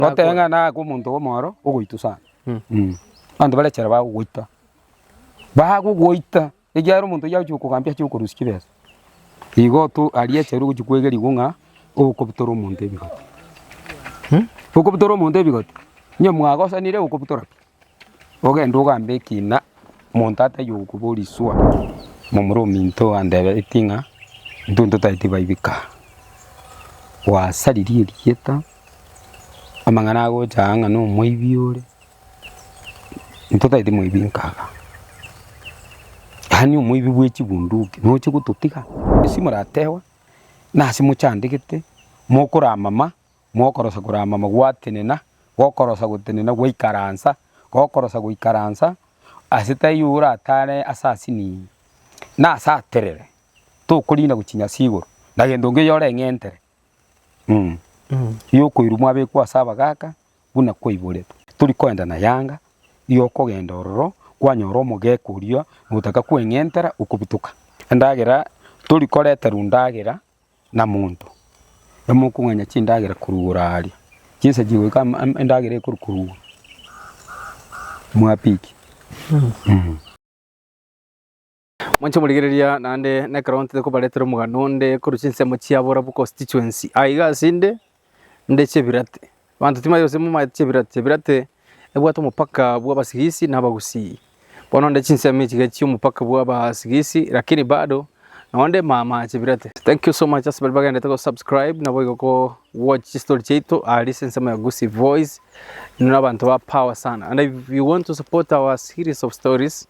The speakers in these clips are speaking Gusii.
Goteba ng'a nake omonto obe omoro ogoitwa sana. Abanto bare chara bagogoita, bagogoita ekiagera omonto oyio agochia gokogambia achirie kokorusia chibesa. Igo to aria echaru ogochia kwegerigwa ng'a okobutora omonto ebigoti. Okobutora omonto ebigoti, onye mwagosanire okobutora pi? Ogende ogambe ekina monto ataiyo gokobora iswa, momura ominto andebereti ng'a intwe ntotaeti baibika aa. Gwasariri erieta, amang'ana agocha aa ng'a nomoibi ore, ntotaeti moibi nkaga. Yaani omoibi bwe chibunduki noche gototiga, ase moratewa, nase mochandegete, mokoramama. Gokorosa koramama gwatenena, gokorosa gotenena gwaikaransa, gokorosa goikaransa, ase taiyo oratare ase asiniyi, na ase aterere, tokoriina gochinya ase igoro, na gento nkeyo ore eng'entere, mm igo okoirwa mwabekwa ase abagaka buna kwaiboretwe. Tori koenda na Yanga, igo okogenda ororo kwanyora omogeka oria notaka kweng'entera okobutoka, endagera tori koreterwa ndagera na monto emokong'anya chindagera korwa igoro aaria, chinsa chiria goika endagera ekorwa korwa igoro mwapiki. Mwanche morigereria naende nekero ntete kobaretera omogano onde korwa chinsemo chia Borabu constituency. Aiga asende Nde chebirate. Abanto timari gose momaete chebirate, chebirate ebwate omopaka bw'abasigisi na abagusii. Bono nde chinsemo echi iga chi'omopaka bw'abasigisi lakini bado nonye nde mama chebirate. Thank you so much ase baria bagenderete go subscribe nabo igo ko watch chistory chiaito aria ase ensemo ya Gusii Voice. Inwe nabanto ba power sana and if you want to support our series of stories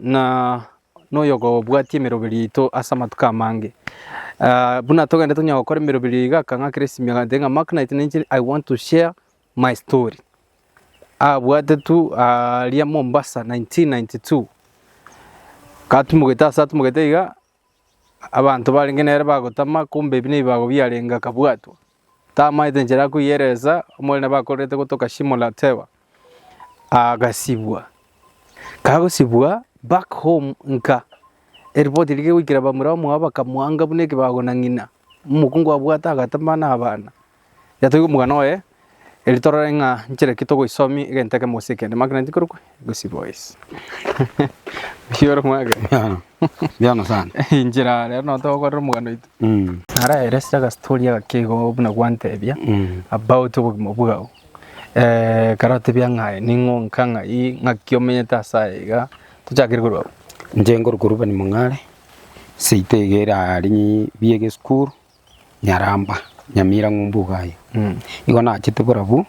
ng'a noyogobwatia emeroberi yaito ase amatuko amange. Buna togende tonya gokora emeroberi eye igaka ng'a Christmas agantebia ng'a Mark night ninche I want to share my story. Abwate tu aria Mombasa nineteen ninety two, katumogete ase atumogete iga Abanto barenge nere bagotama, kombe ebi nebibago biarenge akabwatwa, tamaete nchera ya koyeresa. Omorene bakorerete gotoka Shimon la Tewa, agasibwa. Kagosibwa back home nka, eripoti rigegoikera bamura bamwabo bakamwanga buna ekebago na ng'ina, omokungu abwate agatama na abana. Yatoigwe omogano oye, erio torore ng'a nchera ki togoisomia egento ekemo gose ekende. Mark 19 korokwa egosi boys. Gosio ore omwake. Ebiano. Ebiano sana. Inchera rero nonya togokorera omogano oito. Mm. Nare let's take a story agake igo buna gwantebia Mm. about obogima bwao. Eh, kare otebia ng'a aye ning'o nka ng'ai, ng'aki omenyete ase aye iga. Tochakere korwa abwo. Inche nkorokwa Reuben Mong'are, seito iga erarenge bia egesukuru. nyaramba, nyamira ng'umbu iga aye. Igo nachete borabu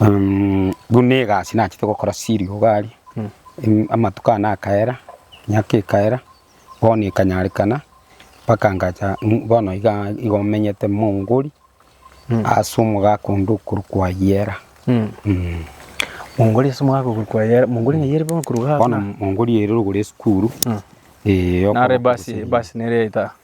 um buna egasi nachete gokora serial iga aria, um amatuko ane akaera, emiaka ekaera, bono ekanyarekana, mpaka ngacha um bono igaa igo menyete Mongori, ase omogaka onde okorokwa Ayera. Mongori ase omogaka okorokwa Ayera, Mongori ng'ai ere bono korwa iga? Bono Mongori ere rogoro ya esukuru, eh, Naro ebasi, ebasi nere yaito aa.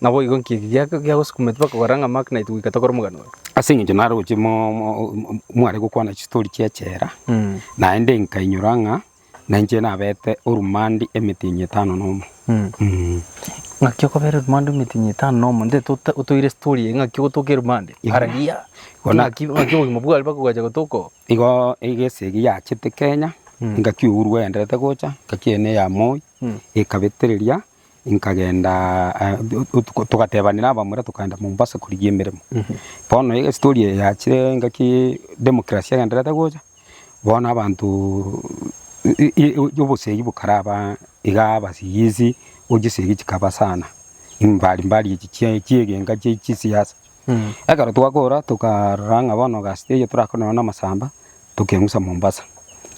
Naboigo inki eke giagosukumete mpaka ogora ng'a Mark naintwe goika tokore omogano oyo? Ase engencho naroche mware gokwana chitori chi'echela, naende nkainyora ng'a nainche nabete orumande emetenyi etano nomo. Ng'aki okobera orumande emetenyi etano nomo? Nde otoire story eye ng'aki ogotoka erumande? Araria, ng'aki obogima bware mpaka bwacha gotoka oo? Igo egese ege yachete Kenya, engaki ourwa yaenderete gocha, engaki eye neya Moi, ekabetereria. nkagendaa otuko togatebanera abamura tokagenda Mombasa korigia emeremo. Bono iga estori eye yachire ngaki democracy egendererete gocha, bono abantoooo i- i obosegi bokaraba igaa abasigisi, ochisigisi chikaba sana, mbari mbari echi chia chiegenga chia chisiasa. Ekero twakora tokarora ng'a bono egasi eyio torakore na amasamba tokeng'usa Mombasa.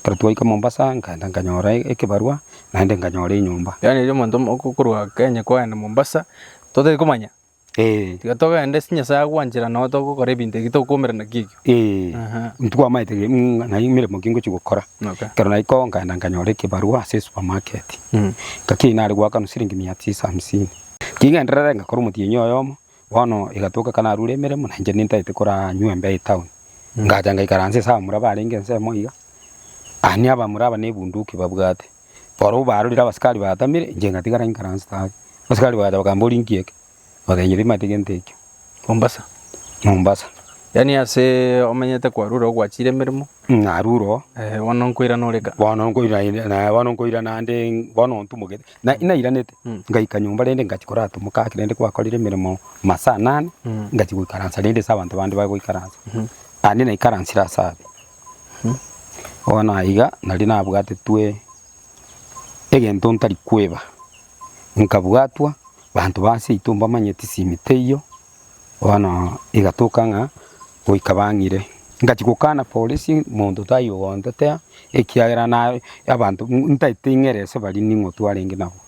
Ekero twaika Mombasa nkaenda nkanyora ekebarua naende nkanyora enyomba. Yaani riria omonto okorwa Kenya kwagenda Mombasa totari komanya? Eeh. Tiga togende ase Nyasae agwanchera nabo togokora ebinto ebi tokoumera naki ekio. Eeh. Aha. Ntitwamaete ng'a naye emeremo ki ngochia gokora. Okay. Ekero naika oo nkaenda nkanyora ekebarua ase esupermarket. Ngaki nare goakanwa siringi mia tisa hamsini. Ting'enderere ngakora omotienyi oyomo Bono egatoka ekero narure emeremo, na inche nintaete koranywa embe etaoni, ngacha ngaikaransa ase abamura barenge ensemo iga, ani abamura aba nebunduki babwate, barabwo barorire abasikari batamire, inche ngatigara nkaranse tari, abasikari bagacha bakambora ori nki eke? Nkabatebi nyebima tigwe gento ekio. Mombasa. Mombasa. Yaani aseee omenyete kwarure ogwachire emeremo. Mh, narure oo. Eeh, bono nkoirana ore kaa. Bono nkoirana naende, bono nkoirana naende bono ntumokete. Na inairanete, ngaika nyomba rende ngachia korata omogaka rende kwakorire emeremo masaa anane, ngachia goikaransa rende ase abanto bande bare goikaransa. Naende naikaransire ase aria. Bono aiga naria nabwatetwe egento ntari kweba, nkabwatwa, banto ba ase yaito mbamanye tisimi teiyo, Bono igatoka ng'a goika bang'ire, ngachia gokana polisi monto taiyo oontetea, ekiagera naye abanto ntaete ing'ere ase baria ning'o twarenge nabo.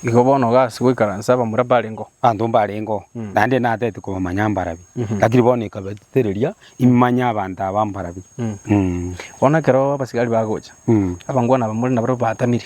Igo bono gasi goikaransa abamura mbarengeo. Abanto mbarengeo, naende natete kobamanya mbarabi, lakini bono ekabatetereria imanye abanto aba mbarabi. Bono ekero abasigari bagocha, abangwana abamura nabare batamire.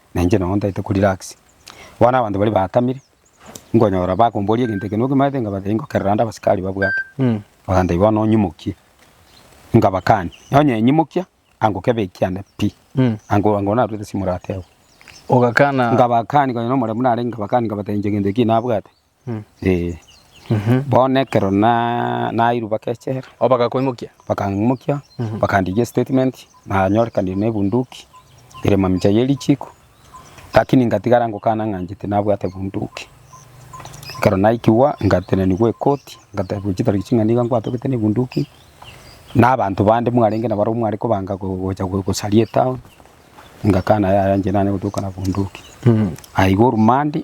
Na inche nonya ntaete ko relax. Bono abanto baria baatamire, nkonyora bakomboria egento eke nokimanyete, nkabatebia ngokerera ande abasikari babwate. Bakantebia bono onyimokie. Nkabakania, nonya enyimokia, angokebekia ande pi. Ango ango narwete ase emorata eye. Ogakana. Nkabakani konya nomoremu narenge nkabakani nkabatebia inche egento ekio nabwate. Ee, bono ekero na- nairwe bagechera, O bagakoimokia? bakang'imokia, Mhm. bakandikia estatement, nanyorekanirie na ebunduki ere mamicha ye richiko, lakini ngatigara ngokana ng'a inche tinabwate bunduki. Ekero naikigwa, ngatenenigwa ekoti, ngatebiwa chitariki ching'a nigo nkwatogete na ebunduki, na abanto bande mwarenge nabo barabwo mware kobanga go- gocha go- gosaria etown, ngakana yaya inche nanye gotoka na bunduki. Aye iga orumande,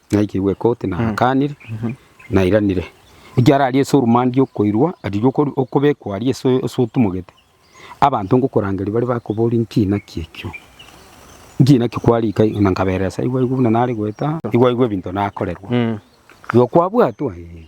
Naikirwe koti naakanire, nairanire. Ekiagera aria ase orumande riokoirwa riria okobekwa aria ase otumogete, abanto ngokorangeria bare bakoboria inki naki ekio, inki naki kware ika na nkaberesa, aigwa aigwe buna nare goeta, aigwa aigwe ebinto nakorerwa, igo kwabwatwa? Ee.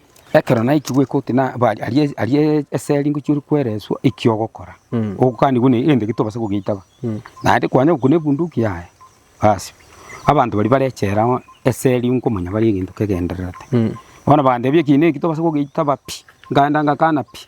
Ekero naikigwe koti na bari aria aria eseri ngochia ore kwereswa eki ogokora, ogokanigwe ne egento eke tobasa kogeitaba. Naende kwanyora okwo nebunduki yaye, basi abanto baria bare echela oo eseri nkomanya bare egento kegendererete. Bono bagantebia eki ne eki tobasa kogeitaba pi, nkaenda ngakana pi.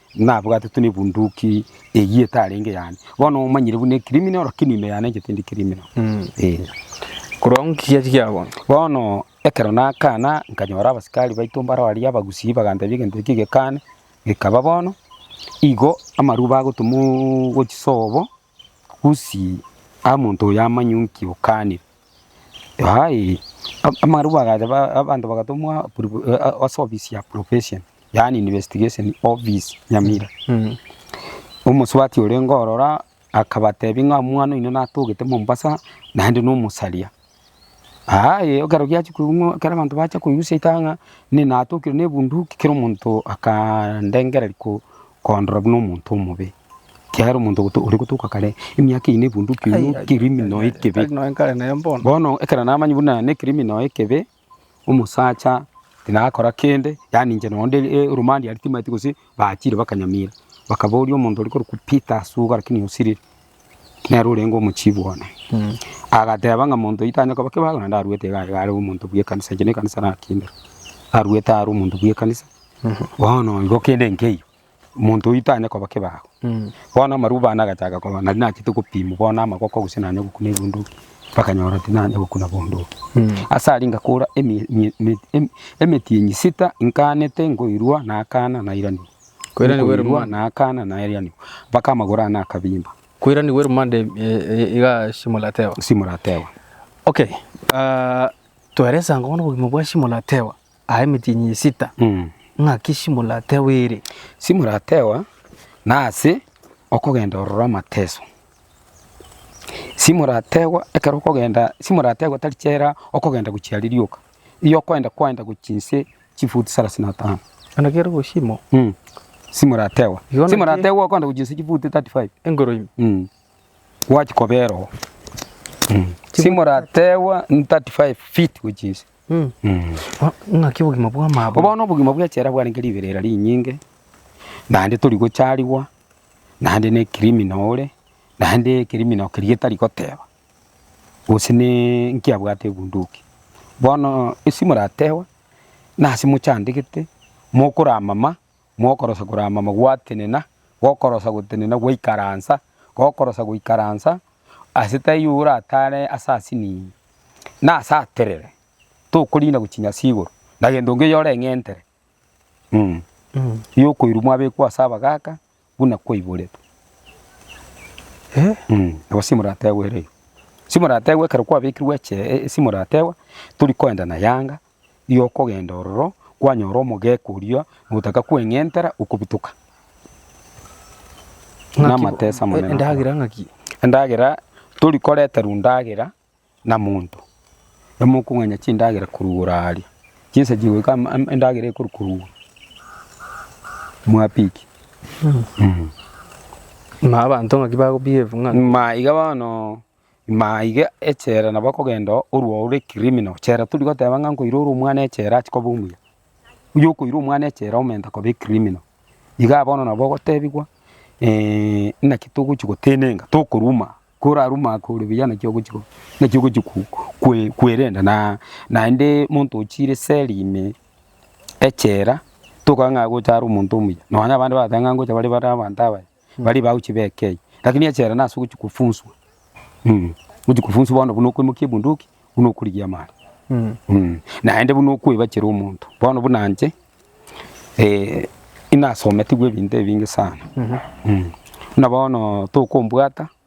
Nabwate tuna ebunduki eyio etarenge yane. Bono omanyire buna ecriminal lakini ime yane enchete ndi criminal. Eeh. Korwa ng'o kiya kiagonya? Bono ekero nakana nkanyora abasikari baito mbaro aria abagusii bagantebia egento ekio gekane gekaba bono igo amarube agotumwa gochia sobo Gusii aa monto oyo amanye nki okanire. Yaani amarwa agacha abanto bagatomwa ase ofisi ya probation yaani investigation office Nyamira. Omosubati orenge ororo akabatebi ng'a omwana oino natogete Mombasa naende nomosaria. Aa eeh ekero giachia koigwa ekero abanto bachia koigusha ritang'a ng'a nini natokirwe nebunduki kera omonto akandengereria ko kondora buna omonto omobe, ekiagera omonto oto oregotoka kare emiaka eyio nebunduki oyo ne criminal ekebe. Bono ekero namanyire buna ne criminal ekebe. Omosacha tinakora kende, yaani inche noonde eromandi aria timaeti gose bachire bakanyamira. Bakaboria omonto oria korokwa Peter ase iga lakini osirire, nere orenge omochibi one. Agateba ng'a monto oyio tanya koba kebago naende aruete iga iga are omonto bw'ekanisa, inche nekanisa nakinire, aruete are omonto bw'ekanisa, bono igo kende nkeiyo. Omonto oito tanyare koba kebago. Bono amarwa bane agachaaka koba nari nachete gopimwa bono amagoko gose nanye gokuna ebunduki, bakanyora tinanye gokuna bunduki. Ase aria ngakora emi- emi- emi- emi- emetienyi sita nkaanete nkoirwa nakaana nairanigwa. Koiranigwa ere Nkoirwa monda. nakaana nairanigwa, mpaka amagoro ane akabimba. Koiranigwa ere monda em- e- e- iga shimo latewa. Shimo latewa. Okay, ah, twaeresa ang'e bono obogima bwa shimo latewa. aa emetienyi esita, ng'aki simoratewa ere? Simoratewa nase okogenda ororo amateso, simoratewa ekero okogenda, simoratewa tari chera okogenda gochia ririoka, eyi okoenda kwaenda gochia inse chifuti salasini na tano. Bono kere gosimo. Simoratewa, simoratewa okoenda gochia inse chifuti tati faibu. Engoro ime. Gwachi kobera oo. Simoratewa tati faibu fiti gochia inse. Naki obogima bw'amaboko. Bono obogima bw'echela bwarenge riberera rinyinge, naende tori gocharigwa, naende ne criminal ore, naende criminal keria etari goteba, gose ne nki abwate ebunduki. Bono esi moratewe, nase mochandegete, mokora amama, Mokorosa koramama gwatenena, gokorosa gotenena gwaikaransa, gokorosa goikaransa, ase taiyo oratare ase asini, na ase aterere, tokoriina gochinya ase igoro, na gento nkeyo ore eng'entere, mm yokoirwa mwabekwa ase abagaka buna kwaiboretwe. Mm nabo simorategwe ere, simorategwe ekero kwabekirwe eche, simorategwa tori koenda na Yanga. ri'okogenda ororo kwanyora omogaka oria notaka kweng'entera okobitoka namatesa amanene. Endagera ng'aki? Endagera tori koreterwa endagera na monto. Emokong'anya chindagera korugora aria. Chinsa chigoika endagera ekori korugora. Mwapiki. Ma abanto ng'aki bago behave ng'a. Ma iga bono. Ime aiga echela nabo ekogenda oo, orua ore criminal chela tari goteba ng'a nkoira ore omwana echela achi koba omuya. Oyokoira omwana echela aumenta koba ecriminal. Igaa bono nabo ogotebigwa eeh naki togochi gotenenka tokoruma, koraruma ake ore buya naki ogochi go naki ogochi ko kwe kwerenda naa naende monto ochire seli ime echela tokobaa ng'a agocha are omonto omuya. Nonya abande bagotebi ng'a ngocha bare bare abanto abaya. baria bagochia bekei, lakini echela nase ogochia kofunswa, ogochia kofunswa bono buna okoimokia ebunduki buna okorigia amare, naende buna okoebachera omonto. Bono buna inche nasometigwe ebinto ebinge sana, buna bono tokombwata.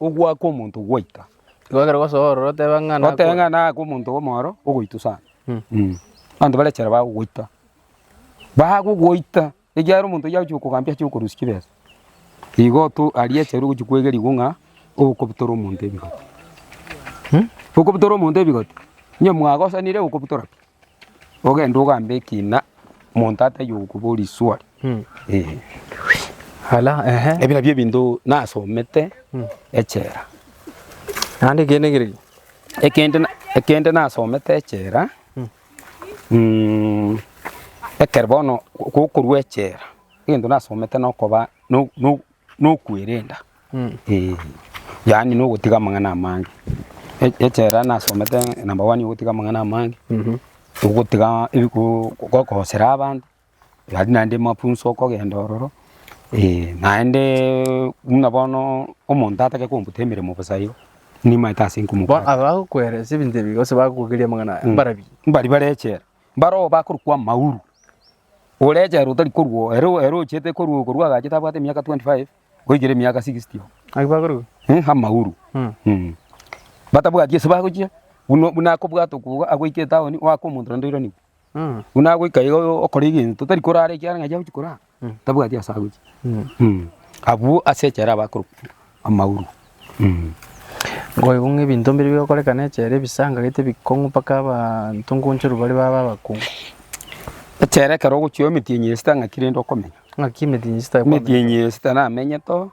Ogoaka omonto gwaika. Goakera gosoa ororo otebe ng'a nakoa. Otebe ng'a nakoa omonto omoro ogoita sana. Abanto bare chera bagogoita. Bagogoita ekiagera omonto oyio agochia gokogambia ache gokorusia chibesa. Igo to aria chero ogochia koegeriwa ng'a okobutora omonto ebigoti. Okobutora omonto ebigoti, onye mwagosanire okobutora pi? Ogende ogambe ekina monto ataiyo gokoboria riswali. Ebi nabio ebinto nasomete echela. Naende ekende keria? Ekende nasomete echela, ekero bono gokorwa echela egento nasomete nokoba nokwerenda, ee, yaani nogotiga amang'ana amange. E- Echela nasomete number one yogotiga amang'ana amange, ogotiga ebiku gokosera abanto, gaki naende mafunso okogenda ororo, ee, naende buna bono omonto atake kombuta emeremo bosa igo, nimaete ase Bono nkomobwate. abagokweresa ebinto ebi gose bagokogeria amang'ana aya, mbarabwo? Mbari bare echela, Mbaro oo bakorokwa Mauru, orechera otari korwa oo, ere ere ochete korwa oo korwa agachete abwate emiaka 25 goikera emiaka 60 oo. Naki bakorokwa? Eh, ha Mauru. Mm. Mm. Batabwati ase bagochia, buna buna akobwata okwo iga agoika etaoni oaka omonto naende oiraneku. Mm. Buna agoika iga oyo okora egento tari korara ekiagera ng'a aye agochia korara. tabwati ase agochia. Abwo ase echela abakorokwa amauru. Ngoigu ng'a ebinto mbiri bigokorekana echela ebisanga gete ebikong'u mpaka abanto nkonchoru bare babe abakong'u. Echela ekero ogochia emetienyi esita ng'aki rende okomenya? Ng'aki emetienyi esita ekobera? Emetienyi esita namenyete oo,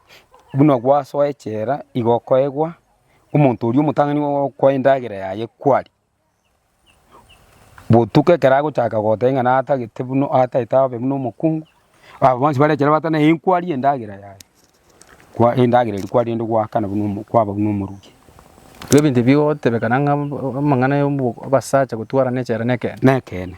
buna gwasoa echela igo okoegwa, omonto oria omotang'ani okoa endagera yaye kwaria. Botuko ekero agochaka gotebia ng'a natagete buna ataete abe buna omokungu, aba bonsi bare ekero bateba naye nkwarie endagera yaye, kwa endagera eria kwaria rende gwaakana buna omo kwaba buna omoruki. Ebinto ebi bigotebekana ng'a amang'ana ya obo abasacha gotwarana echela nekeene. Nekeene.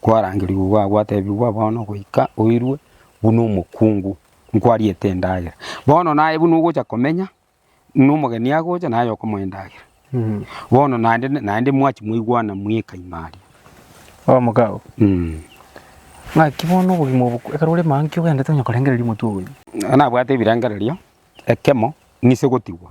Kwarangerigwe iga gwatebigwa, Bono goika oirwe buna omokungu, nkwariete endagera. Bono naye buna ogocha komenya nomogeni agocha naye okomoa endagera. Bono naende naende mwachi mwaigwana mweka ime aria. Omogao, Mm. ng'aki bono obogima obo ekero ore manki ogendete onye korengereria omotwe ogoika? Nabwate ebirengererio, ekemo nise gotigwa.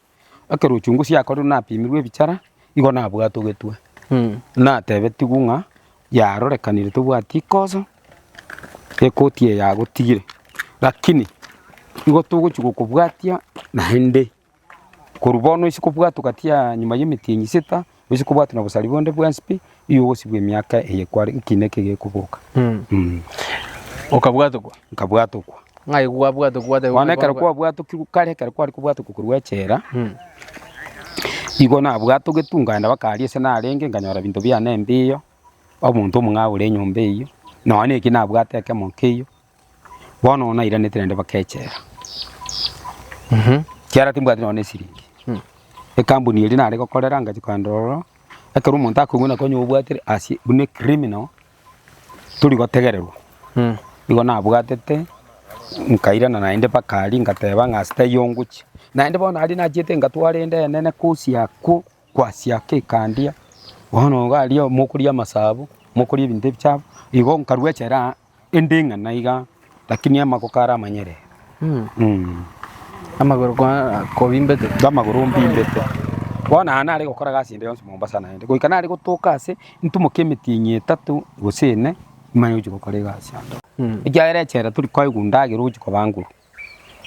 ekero ochunguzi yakorirwe napimirwe ebichara, igo nabwatogetwe, natebetigwe ng'a yarorekanire tobwati kosa, ekoti eye yagotigire. Rakini igo togochia gokobwatia naende, korwa bono ase kobwatwa gati ya nyuma ya emitinyi sita, Gose kobwate nobosari bonde bwensi pi, igo ogosibwa emiaka eye kware ekiina eke gekoboka. Okabwatokwa? Nkabwatokwa. Ng'ai kwabwatokwa? Bono ekero kwabwatokirwe kare, ekero kware kobwatokwa korwa echela, igo nabwatogetwe nkaenda mpaka aria ase narenge, nkanyora ebinto biane mbiyo, omonto omong'ao ore enyomba eyio, nonya naki nabwate ekemo nkeiyo, Bono oyo nairanete naende baka echela. Ekiagera timbwati nonya nesiringi. Ekambuni eria nare gokorera ngachia kogenda ororo, ekero omonto akoigwa ng'a konya obwatire ase buna ecriminal, tori gotegererwa. Nigo nabwatete, nkairana naende baka aria ngateba ng'a ase taiyo ngochia. Naende bono aria nachiete ngatwara ende enene kosi akwo, kwasi ake ekandia. Bono iga aria mokoria amasaabo, mokoria ebinto ebichafu, igo nkarua echela aa Inde ng'a naiga, lakini amagoko are amanyerere. Amagoro kwa- kobimbete. Amagoro mbimbete. Bono aya nare gokora gasi ende yonsi Mombasa naende. Goika nare gotoka ase ntumoke emetienyi etato gose ene, nimanye gochia gokora egasi ande. Ekiagera echela tori koegwa ndagera ogochia kobanguru.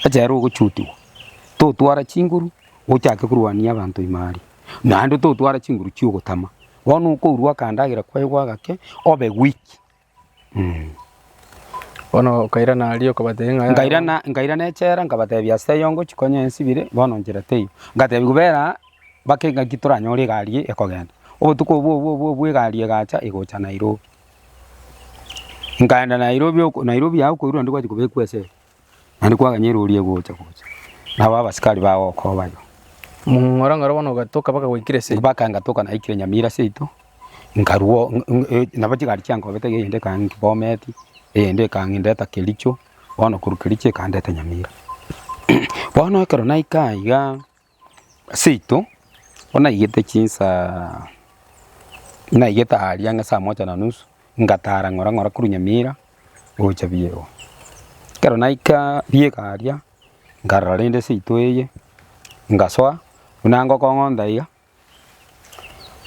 Echela ogochutigwa. Totwara chinguru, ochake korwania abanto ime aria. Naende totwara chinguru chia ogotama. Bono okourwa akandagera kwaigwa gake, obe weak. Bono nkairana aria okabatebia ng'a yaya. Nkairana nkairana echela nkabatebia ase eyongo chikonye ensibire bono nchera teiyo. Nkatebiwa bera aa bake ng'aki toranyore egari eye ekogenda. Obotuko obwo obwo obwo obwo egari egacha egocha Nairobi. Nkaenda Nairobi oko Nairobi yao okoirwa onde gwachia kobekwa esegi. Naende kwaganya erori egocha gocha, nabo abasikari bagokobayo. Mong'ora ng'ora bono ogatoka baka gwaikire ase. Baka ngatoka naikire Nyamira ase yaito, nkarwo ng- ng- e- nabo chigari chiankobete iga eyende ekang'inki Bomet, eyende ekang'indeta Kericho, bono korwa Kericho ekandeta Nyamira. Bono ekero naika igaa. Seito, bono naigete chinsaa, naigete aria ang'e saa moja na nusu, ngatara ng'ora ng'ora korwa Nyamira gocha Biego. Ekero naika Biego aria, nkarora rende seito eye, ngasoa buna ngokong'onda iga,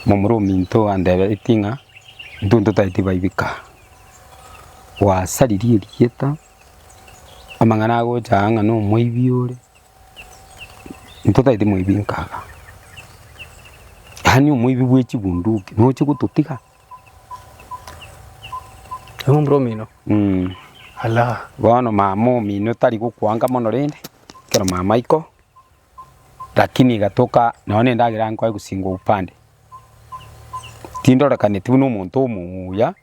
momura ominto andeberetie ng'a intwe ntotaeti baibeka aa, gwasaririe erieta, amang'ana agocha aa ng'a nomoibi ore, ntotaeti moibi nkaga, yaani omoibi bwe chibunduki noche gototiga? Momura omino? Mmh. Alaa. Bono mama omino tari gokwanga mono rende, ekero mama aiko. Lakini igatoka nao nendagera nkoe gosingwa upande. Tindorekaneti buna omonto omuya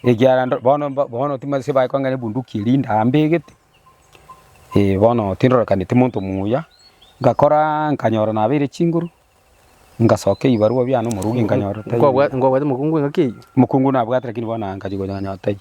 ekiara ndo bono mba bono timanyeti bae kong'a ebunduki eria indaa mbegete eh bono tindorekaneti monto muya. Ngakoraa nkanyora nabeire chinguru, ngasokia ebibarua biane omorungi nkanyorota eh. Nkobwate mokungu engaki eyio. Mokungu nabwate lakini bono nkachigocha nkanyorota eyio.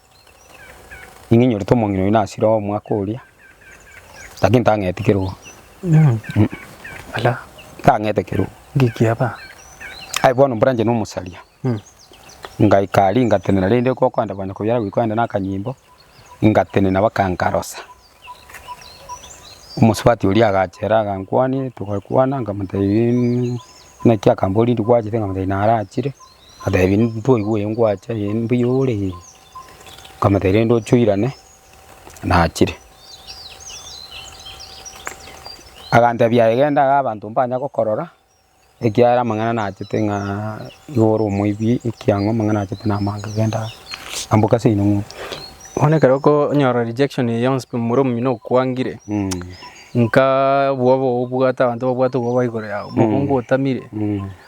Ning'e nyorete omong'ina oyio nasire omwaka oria, lakini tang'eti kerogo. Mh, ala, tang'ete kerogo. Ngekiaba. Aye bono mbranche na omosaria. Mh. Ngaika aria ngatenena rende gokonde bana koyara goika ande na akanyimbo, ngatenena baka nkarosa. Omosubati oria agachera agankwania, togakwana, nkamotebia naki akambora rindi gwachete, nkamotebia narachire. Agatebi, Ntoigwe eye ngwacha eye mbuya ore eye? Nkamotebia, Rende oche oirane, nachire. Agantebia, Aye genda iga abanto mbanya gokorora, ekiagera amang'ana nachete ng'a iga ore omoibi ekiang'u amang'ana achete namange, genda amboka ase enyomo. Bono ekero okonyora rejection eye yonsi pi momura omino okwangire, nkaa obwoba obwo obwate abanto babwate obwoba igoro yao, mogongo otamire,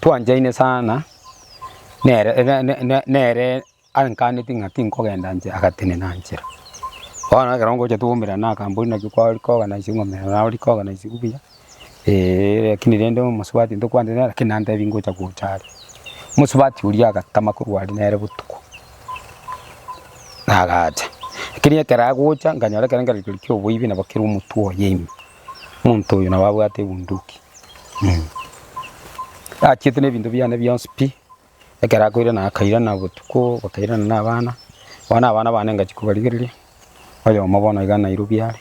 twanchaine sana nere nere ankaneti ng'a tinkogenda inche agatenena nchera. Bono ekero ngocha twaumerana na akampuni naki kwari koganaichia ng'a omera naye ore koganaichigwa buya eeh, rakini rende omosubati ntokwantenena rakini nantebia ngocha gocha are. Omosubati oria agatama korwa aria nere botuko, nagacha. Rakini ekero agocha, nkanyora ekero nkerorokio kia oboibi nabo kere omotwe oye ime. Omonto oyo nabo abwate ebunduki, achiete nebinto biane bionsi pi, ekero akoirana akairana botuko, bakairana na abana, bono abana bane ngachia kobarigereria, oyomo bono iga Nairobi are,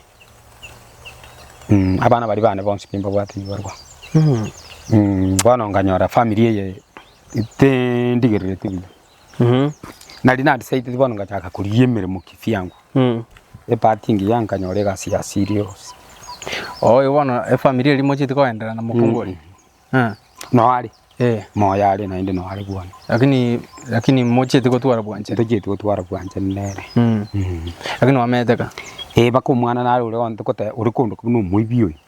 abana baria bane bonsi pi mbabwate ebibarwa, bono nkanyora family eye tindigerereti buya. Nari narisaiteti bono ngachaka korigia emeremo kivyangu. Epart engiya nkanyora egasi ya serious. Oyo bono efamiri eria mochiete koenderana mokungu oria? Noo are, moyo are naende noo are bwane. Lakini mochiete kotwara bwanchani? Tochieti kotwara bwanchani nere. Lakini oamete ka? Ee mpaka omwana naro ore ore kondo kobuna omoibi oyo.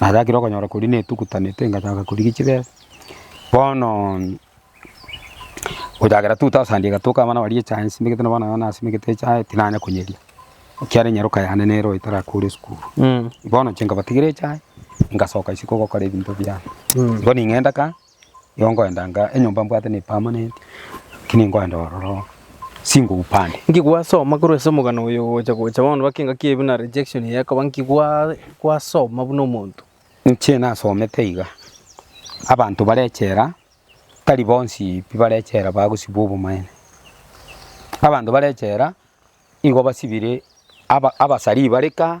natagire okonyora koria netugutanete ngachaka korigia chibesa, bono gochakera 2000 egatoka abana baria echae nsimegete nabo abana nasimegete echae tinanya konyeria ekiagera enyaroka yane nere oyo tarakure esukuru, bono inche nkabatigera echae ngasoka isiko gokora ebinto biane, bono ing'enda ka. Igo nkoenda nka enyomba mbwate ne permanent lakini nkoenda ororo singou pande. Nki gwasoma korwa ase omogano oyo gocha gocha bono baka engaki eye buna rejection eye ekoba nki gwa gwasoma buna omonto? Inche nasomete iga, abanto bare echela tari bonsi pi bare echela bagosibwa obomaene. Abanto bare echela igo basibire aba abasarii bare kaa.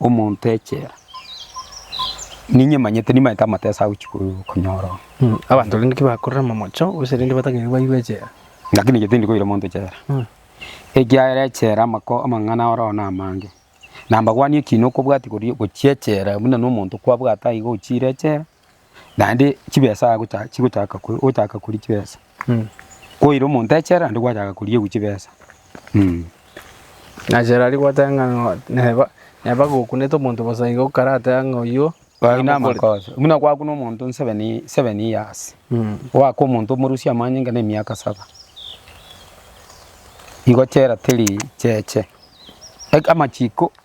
Omonto echela, ninye manyete nimanyete amatesa agochi konyora oo. Abanto rende tibakorera amamocho, gose rende batagaiwe bairwe echela. Lakini inche tindi koira omonto echela, ekiagera echela amako amang'ana oroo namange, na mbabwani ekiina okobwatia koria gochia echela buna nomonto kwabwate aiga ochiire echela, naende chibesa agocha chigochaka ko ogochaka koria chibesa. Koira omonto echela naende gwachaka koriegwa chibesa mm. Na Gerari gwateba ng'a no- neba neba gokunete omonto bosa igo karateba ng'a oyio Aye nare mokori. namakosa buna gwakuna omonto seven ye- seven years Mm. oaka omonto omorusia amanyinga na emiaka saba igo chela teri cheche Eg- amachiko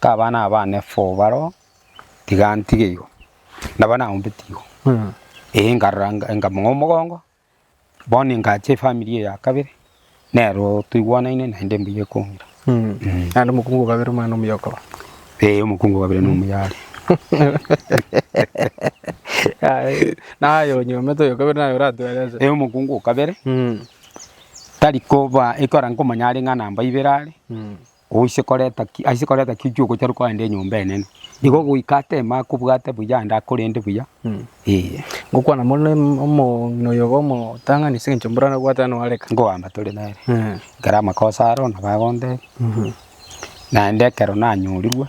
Kabana aba bane four baro oo, tiga ntige igo, nabo naombeti igo, eeh nkarora nkamong'aa omogongo, bono ngacha efamiri eye ya kabere, nero toigwanaine naende mbuya ekong'ira. Naende omokungu o kabere omwana omuya okoba. Eeh omokungu o kabere nomuya are. Aye, naye onyomete oyo o kabere naye oratwere ase. Eeh omokungu o kabere, tari koba ekero nkomanya are ng'a namba ibere are, Oise koreta ki, aise koreta ki ki'ogochorwa kwaende enyomba enene, nigo goika ateme akobwate buya naende akorende buya, ee. Ngokwana mono na omong'ina oyo ogo omotang'ani, ase eng'encho mbora nabwate ane oareka. Nkogamba tore nere, ekero amakosa aro nabo agondebia, naende ekero nanyorirwe.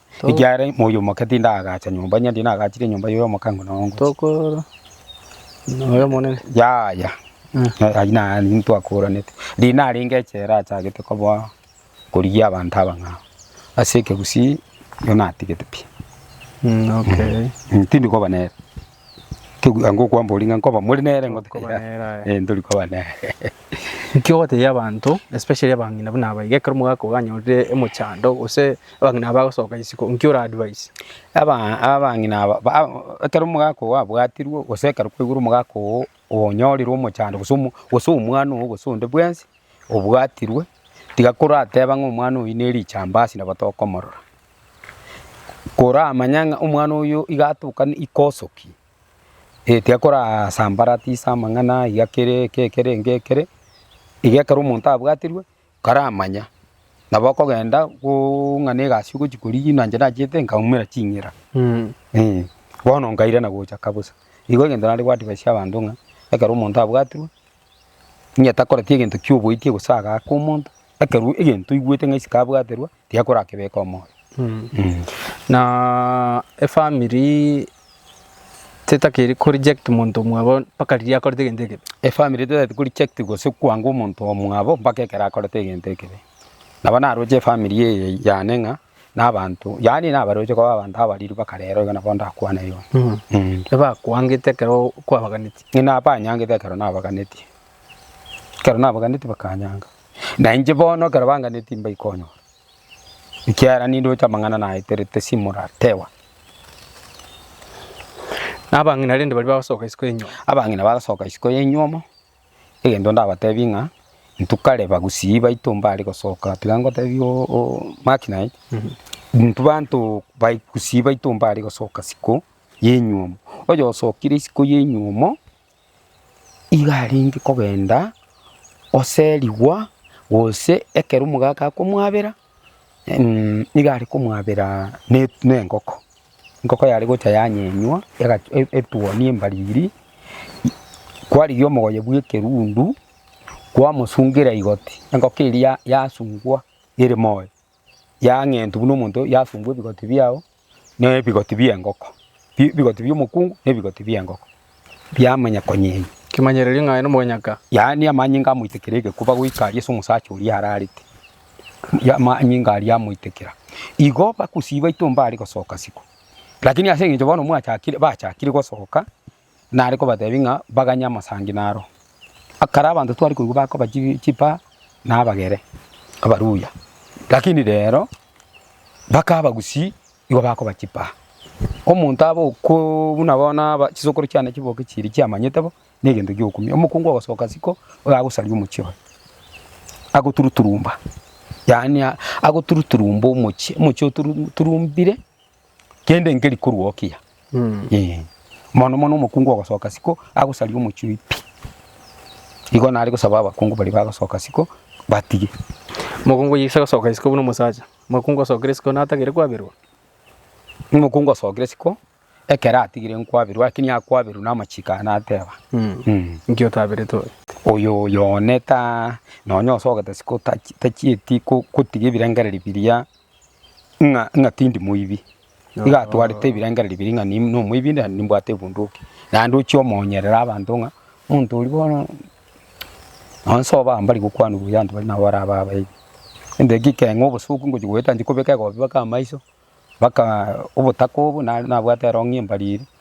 Ekiagera moyo omoke tindagacha nyomba, onye ndinagachire nyomba yoyo omoke ng'o nongochia. Tokorora noyo omonene. Yaya, Eh, ayio naye ntwakoranete. Riria narenge echela achagete koboa korigia abanto abang'ao. Ase ekegusii, igo natigete pi. mm, okay. Mm, tindi koba nere. Kegoka okwambori ng'a nkoba more nere ngote Nkoba koira. nere, aye. Eh ntori koba nere. Inki ogotebia abanto especially abang'ina buna aba iga ekero omogaka ogo anyorire emochando gose abang'ina aba bagosoka isiko inki ora advise? Aba abang'ina aba ba ekero omogaka ogo abwatirwe gose ekero kwaigure omogaka ogo onyorire omochando gose omo gose omwana ogo gose onde bwensi obwatirwe, tiga korateba ng'a omwana oyi ne richambasi nabo tokomorora. koramanya ng'a omwana oyo iga atokane ikoso ki, eh tiakorasambarati ase amang'ana iga kere eke kere eke kere, iga ekero omonto abwatirwe karamanya, nabo okogenda boooo ng'a na egasi ogochi korigia na inche nachiete nkaumera ching'ira eh, bono nkairana gocha kabosa. Igo egento nare goadvicia abanto ng'a ekero omonto abwatirwe. Onye takoreti egento ki'oboikia gose agaaka omonto, ekerua egento oigwete ng'a isiko abwaterwa tiakorakebeka omoyo. Na efamiri tetakeri koreject monto omwabo mpaka riria akorete egento ekebe. Efamiri tetaeti koreject gose kwanga omonto omwabo mpaka ekero akorete egento ekebe. Nabo naroche efamiri eye yane ng'a. nabanto, yaani nabaroche koba abanto abariru bakarero iga nabo ndakwane igo. Mm. Ebakwangete ekero kwabaganeti. Ng'ina abanyangete ekero nabaganeti. Ekero nabaganeti bakanyanga. Na inche bono ekero banganeti mbaikonyora. Ekiagera nindoche amang'ana naeterete simoratewa. Nabang'ina rende baria bagosoka isiko ya enyuomo. Abang'ina bagasoka isiko ya enyuomo. egento ndabatebi ng'a intwe kare bagusii baito mbare gosoka tiga ngotebie Mark naye, intwe banto bagusii baito mbare gosoka isiko ya enyiomo, oyosokire isiko ya enyiomo iga arenge kogenda oserigwa gose ekero omogaka akomwabera Nigo are komwabera nengoko, engoko yare gocha yanyenywa etuonia embariri, kwarigia omogoye bw'ekerundu, kwamosungera igoti, engoko eria yasungwa ere moyo, yang'entwa buna omonto yasungwa ebigoti biao. nebigoti bi'engoko, ebigoti bi'omokungu na ebigoti bi'engoko biamanya konyenya. Kemanyererio ng'a aye nomoganyaka. Yaani amanyinga amoitekera egekuba goika aria ase omosacha oria ararete, amanyinga aria amoitekera. Igo bagosii baito mbare gosoka isiko, lakini ase eng'encho bono mwachakire bachakire gosoka. Nare kobatebia ng'a baganye amasangi naro. Akare abanto twari koigwa bakoba chi- chipaa na abagere abaruya, lakini rero mpaka abagusii nigo bakoba chipaa. Omonto abe okooo buna bono aba chisokoro chiane chiboke chiria chiamanyete bo, na egento giokumia. Omokungu ogosoka isiko, iga agosaria omochie oye, agoturuturumba, yaani agoturuturumba omochie, omochie oturuturumbire. Kende nkeri korwokia. Ee. Mono mono omokungu ogosoka siko agosaria omochioi pi. Igo nare gosaba abakungu baria bagosoka siko batige. Mokungu oyise gosoka isiko buna omosacha. Mokungu osokire isiko natagere kwaberwa. Omokungu osokire isiko ekero atigire nkwaberwa lakini akwaberwa na amachiko aya nateba. Inki otaberete oyo? Oyo oyo one ta nonya osogete isiko tachi tachieti ko kotiga ebirengererio biria. ng'a ng'a tindi moibi, iga atwarete ebirengererio biria ng'a nim- nomoibi na nimbwate ebunduki, naende ochia omoonyerera abanto ng'a omonto oria bono nonye sobo aba mbari gokwana buya abanto baria nabo bare aba abaibi. Egento ekio kegenge obosuku ngochia goeta nchikobeka egobi baka amaiso, baka obotaka obo, nare nabwate erong'i embari eria.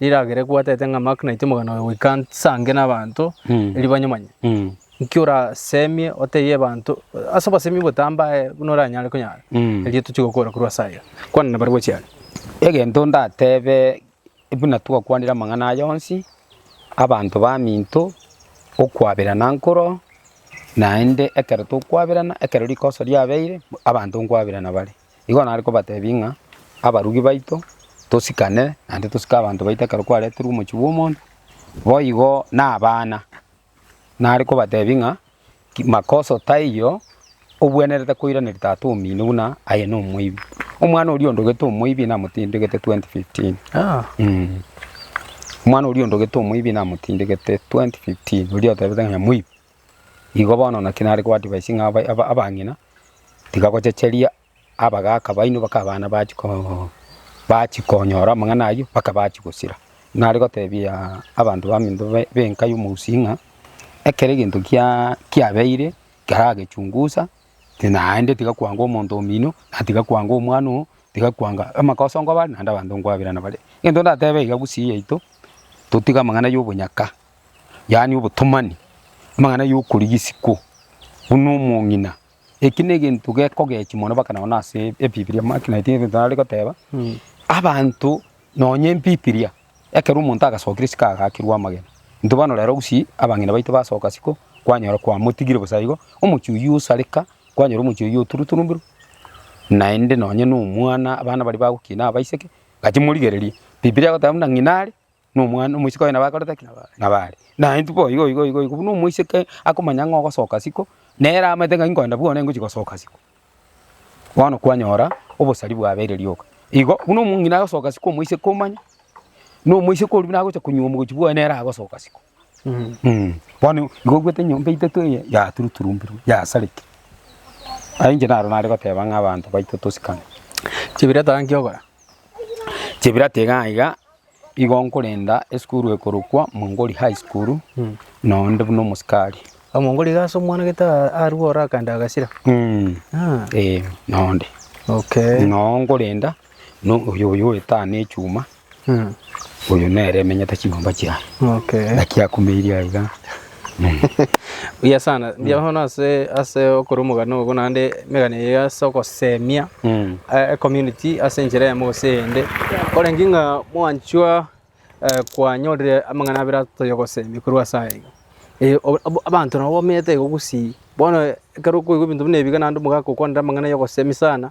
Riragera ekwatete ng'a Mark naitwe omogano oye goika nse ange n'abanto, erio banyomanye. Nki orasemie otebie abanto ase obosemi obotambe aye buna oranyare konyara? Erio tochie gokora korwa ase aya. Kwana na barabwo chiare. Egento ndatebe buna twakwanire amang'ana aya onsi, abanto baminto, okwaberana nkoro, naende ekero tokwaberana, ekero rikoso riabeire, abanto nkwaberana bare. Igo nare kobatebia ng'a abarugi baito tosikane naende tosike abanto baito ekero kwareterwe omochie bw'omonto, boigo na abana nare kobatebia ng'a makoso taiyo obwenerete koiraneria tata omino buna aye nomoibi. Omwana oria ondogete omoibi namotindegete twenty fifteen mmh. Omwana oria ondogete omoibi namotindegete twenty fifteen oria otebete ng'a moibi. Igo bono naki nare koadvaisi ng'a abang'ina tiga gochecheria abagaaka baino baka abana bachia koo bachia konyora amang'ana aywo mpaka bachia gosira. Nare gotebia abanto baminto b'enka y'omosii ng'a ekero egento kiaa kiabeire keragechungusa naende tiga kwanga omonto omino, na tiga kwanga omwana oo, tiga kwanga amakoso nkobare naende abanto nkwabera nabare. Egento ndatebe iga gusii yaito totige amang'ana y'obonyaka yaani obotomani, amang'ana y'okorigia isiko buna omong'ina. Eki negento gekogechi mono mpaka nonye ase ebibiria make naende ebinto nare goteba, abanto nonye ebibiria ekero omonto agasokire isiko agakirwa amagena, intwe bono rero gusii abang'ina baito basoka isiko kwanyora kwamotigire bosa igo, omochie oyio osareka kwanyora omochie oyio oturuturumbirwe naende nonye nomwana abana baria bagokina abaiseke gaki morigererie. Bibiria egoteba buna ng'ina are. nomwana omoiseke oye nabo akorete ki? Nabo are. Naye intwe boigo igo igo igo buna omoiseke akomanya ng'a ogosoka isiko, nere amanyete ng'a inkoenda bono ingochi gosoka isiko. Bono kwanyora obosari bwabeire rioka. Igo buna omong'ina agosoka isiko omoiseke omanye, na omoiseke oria buna agocha konywa omogochi bwoye nere agosoka isiko. Mh, bono igo oigwete enyomba etato eye yaturuturumbirwe, yasarigire. Aye inche naro nare goteba ng'a abanto baito tosikane. Chibirata nkio ogokora? Chibirata iga iga. Igo nkorenda esukuru ekorokwa Mwongori High School noo inde buna omosikari. Omongori iga ase omwana gete a- arue ore akaenda agasira. Mm. Ah, Eh, noo inde. okay. Noo nkorenda no oyo oyo oetana na echuma, Mm, oyo nere emenyete chinyomba chiaye. okay. Naki akumeirie aiga. Buya sana, mbuya mono ase ase okora omogano ogo naende emegano eye ase ogosemia Mm. eh, ecommunity ase enchera eyemo gose eyende. Korenge ng'a mwanchwa eh, kwanyorire amang'ana abere atoyogosemia korwa ase aya iga. Eh, ob- ab- abanto nabo bamenyete igo gusii. Bono ekero okoigwa ebinto buna ebiga naende omogaka okwanire amang'ana yogosemia sana,